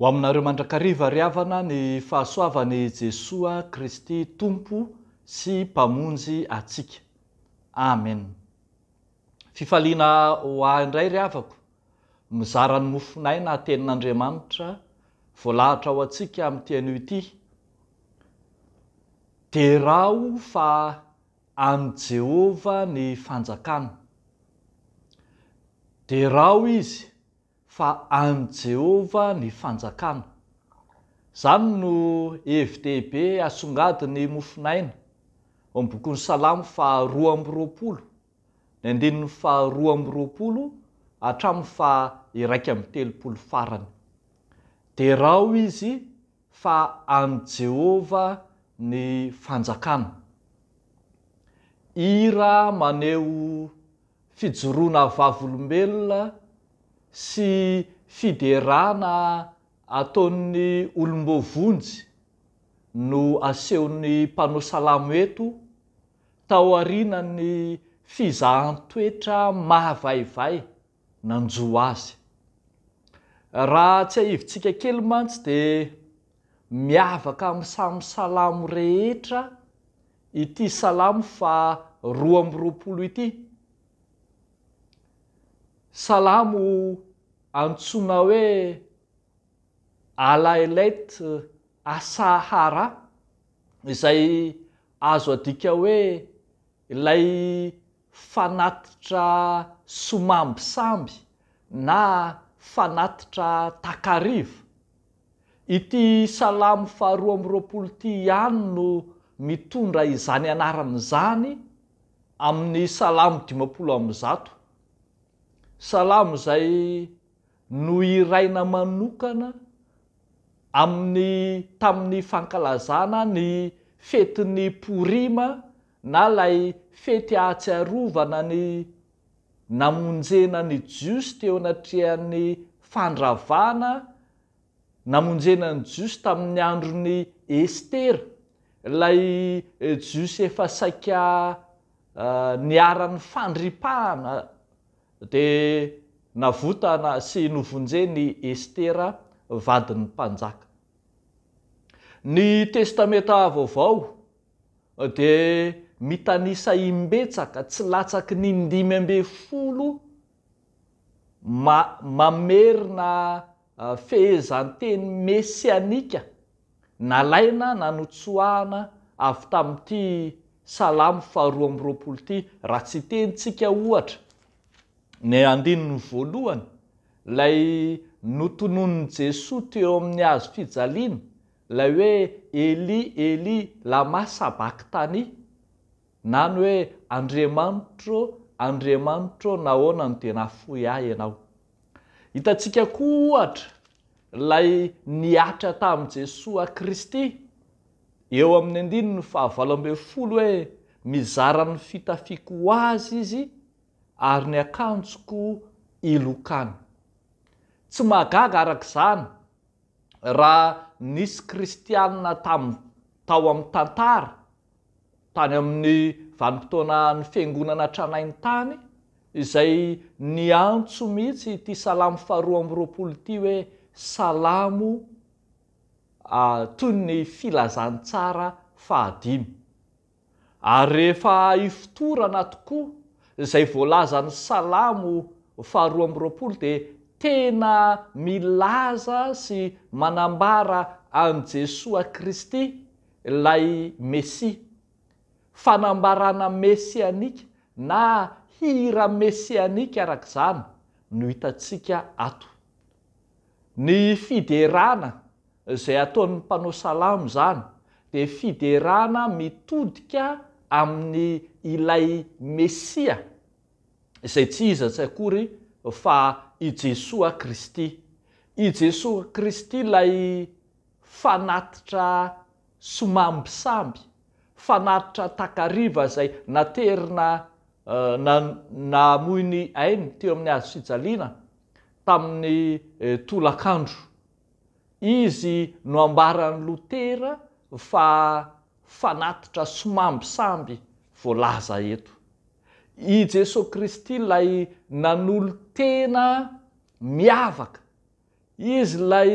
Ho aminareo mandrakariva ry havana ny fahasoavan'i Jesoa Kristy Tompo sy Mpamonjy antsika. Amen. Fifaliana ho ahy indray ry havako mizara ny mofon'aina tenin'Andriamanitra voalahatra ho antsika amin'ity anio ity. Deraho fa an'i Jehovah ny fanjakana. Deraho izy fa an'i Jehovah ny fanjakana. Izany no hevi-dehibe asongadin'ny mofon'aina ao amin'ny bokin'ny Salamo faharoa amby roapolo. ny andininy faha roa amby roapolo hatramin'ny faha iraika amby telopolo farany. Derao izy fa an'i Jehovah ny fanjakana. Hira maneho fijoroana vavolombelona sy fiderana ataon'ny olom-boavonjy no asehon'ny mpanao salamo eto. taorianan'ny fizahan-toetra mahavaivay nanjo azy. Raha tsiahivintsika kely mantsy dia miavaka amin'ny samy Salamo rehetra ity Salamo faha roa amby roapolo ity. Salamo antsoina hoe. Alaelet Asahara, izay azo adika hoe ilay fanatitra somamby samby na fanatitra takariva. Ity Salamo faharoa amby roapolo ity ihany no mitondra izany anarana izany amin'ny Salamo dimampolo amby zato. Salamo izay Nohiraina manokana amin'ny tamin'ny fankalazana ny fetin'ny Porima na ilay fety ahatsiarovana ny namonjena ny Jiosy teo anatrehan'ny fandravana namonjena ny Jiosy tamin'ny andron'i Estera, ilay Jiosy efa saika niharan'ny fandripahana Dia navotana sy novonjen'i Estera vadin'ny mpanjaka. Ny Testamenta Vaovao dia mitanisa imbetsaka tsy latsaky ny indimy ambin'ny folo ma mamerina Fehezanteny mesianika nalaina na notsoahana avy tamin'ity Salamo faharoa amby roapolo ity. Raha tsitenintsika, ohatra, ny andininy voalohany, ilay notononin'i Jesoa teo amin'ny hazo fijaliana, ilay hoe Eli, Eli, lama sabakthani? na ny hoe Andriamanitro, Andriamanitro, nahoana no dia nahafoy ahy Ianao? Hitantsika koa ohatra ilay nihatra tamin'i Jesoa Kristy eo amin'ny andininy fahavalo ambin'ny folo hoe mizara ny fitafiako ho azy izy ary ny akanjoko ilokany. Tsy mahagaga araka izany raha nisy kristianina tamin'ny tao amin'ny tantara, tany amin'ny vanim-potoanan'ny Fiangonana tranainy tany, izay niantso mihitsy ity salamo faharoa amby roapolo ity hoe salamo toy ny filazantsara fahadimy. Ary rehefa ifotorana tokoa izay voalazan'ny Salamo faharoa amby roapolo dia tena milaza sy manambara an'i Jesoa Kristy ilay Mesia. Fanambarana mesianika na hira mesianika arak'izany no hitantsika ato. Ny fiderana. Izay ataon'ny mpanao salamo izany dia fiderana mitodika amin'ny ilay Mesia izay tsy iza tsy akory fa i Jesoa Kristy. I Jesoa Kristy ilay fanatitra somambisamby, fanatitra takariva izay naterina namoy ny ainy teo amin'ny hazofijaliana tamin'ny tolakandro. Izy no ambaran'i Lotera fa fanatitra sy mambisamby voalaza eto. I Jesoa Kristy ilay nanolo-tena miavaka, Izy ilay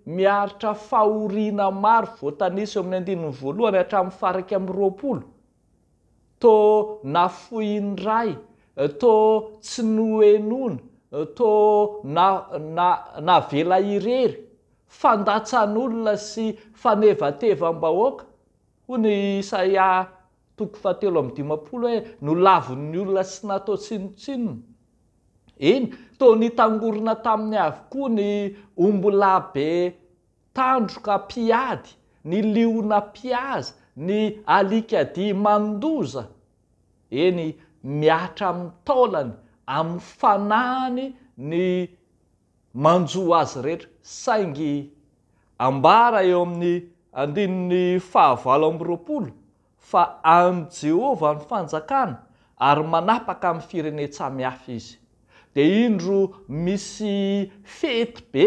miaritra fahoriana maro voatanisa eo amin'ny andininy voalohany hatramin'ny faha iraika amby roapolo. Tô nafoin'ny ray, tô tsy nohenoina, tô na na navela irery, fandatsan'olona sy fanevatevam-bahoaka, hono i Isaia toko fahatelo amby dimampolo hoe, nolavin'ny olona sy natao tsinontsinona. Eny, tô nitangorona taminy avokoa ny ombilahy be Tandroka mpiady, ny liona mpihaza, ny alikadia mandoza, eny, mihatra amin'ny taolany, amin'ny fanahiny ny manjo azy rehetra, saingy ambara eo amin'ny andininy fahavalo amby roapolo fa an'i Jehovah ny fanjakana ary manapaka amin'ny firenen-tsamihafa izy. Dia indro misy fety be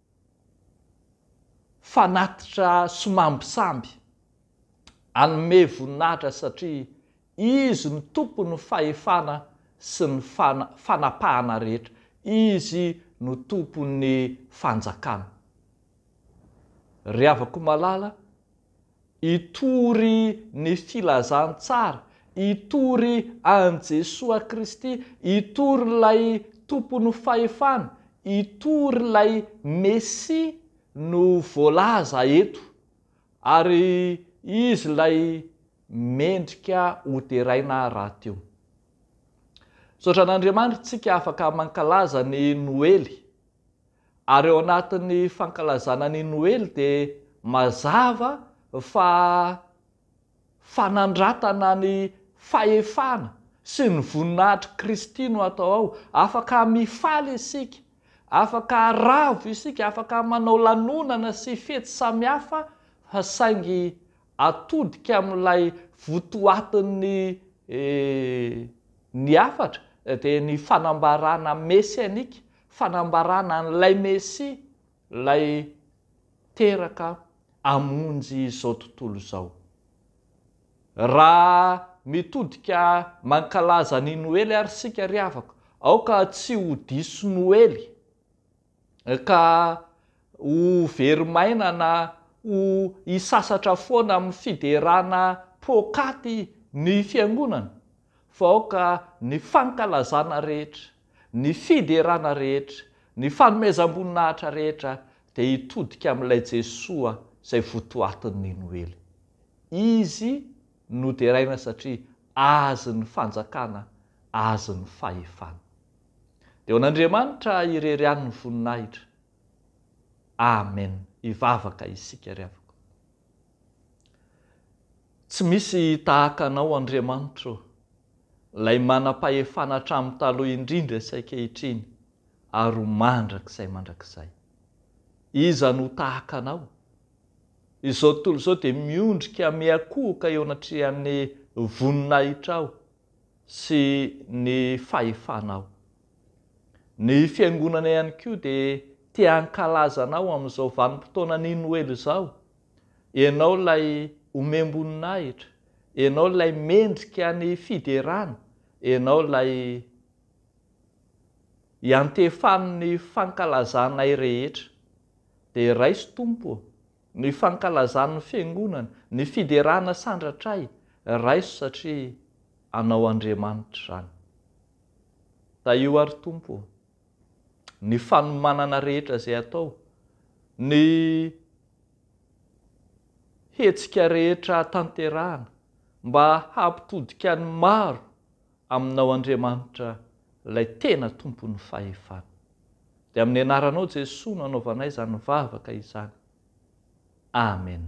Fanatitra sy mambisamby. Hanome voninahitra satria Izy no Tompon'ny fahefana sy ny fanapahana rehetra. Izy no Tompon'ny fanjakana. Ry havako malala, Hitory ny filazantsara, hitory an'i Jesoa Kristy, hitory ilay Tompon'ny fahefana, hitory ilay Mesia no voalaza eto, ary Izy ilay mendrika ho deraina rahateo. Misaotra an'Andriamanitra isika afaka mankalaza ny Noely. Ary ao anatin'ny fankalazana ny Noely dia mazava fa fanandratana ny fahefana sy ny voninahitr'i Kristy no atao ao. Afaka mifaly isika, afaka ravo isika, afaka manao lanonana sy fety samihafa fa saingy atodika amin'ilay votoatin'ny ny hafatra dia ny fanambarana mesianika Fanambarana an'ilay Mesia, ilay teraka hamonjy izao tontolo izao. Raha mitodika mankalaza ny Noely ary isika ry havako, aoka tsy ho diso Noely, ka ho very maina na ho hisasatra foana amin'ny fiderana poakaty ny Fiangonana, fa aoka ny fankalazana rehetra, ny fiderana rehetra, ny fanomezam-boninahitra rehetra dia hitodika amin'ilay Jesoa izay votoatin'ny Noely. Izy no deraina satria Azy ny fanjakana, Azy ny fahefana. Dia ho an'Andriamanitra irery ihany ny voninahitra. Amen. Hivavaka isika ry havako. Tsy misy tahaka Anao Andriamanitro ô, Ilay manam-pahefana hatramin'ny taloha indrindra sy ankehitriny ary ho mandrakizay mandrakizay. Iza no ho tahaka Anao? Izao tontolo izao dia miondrika miankohoka eo anatrehan'ny voninahitrao sy ny fahefanao. Ny Fiangonana ihany koa dia te hankalaza Anao amin'izao vanim-potoanan'ny Noely izao Ianao ilay omem-boninahitra, Ianao ilay mendrika ny fiderana, Ianao ilay iantefan'ny fankalazanay rehetra. Dia raiso Tompo ô, ny fankalazan'ny Fiangonana, ny fiderana sandratray, raiso satria Anao Andriamanitra izany. Tahio ary Tompo ô. ny fanomanana rehetra izay atao, ny hetsika rehetra tanterahana mba hampitodika ny maro aminao Andriamanitra ilay tena tompon'ny fahefana. Dia amin'ny anaranao Jesoa no anaovanay izany vavaka izany. Amen.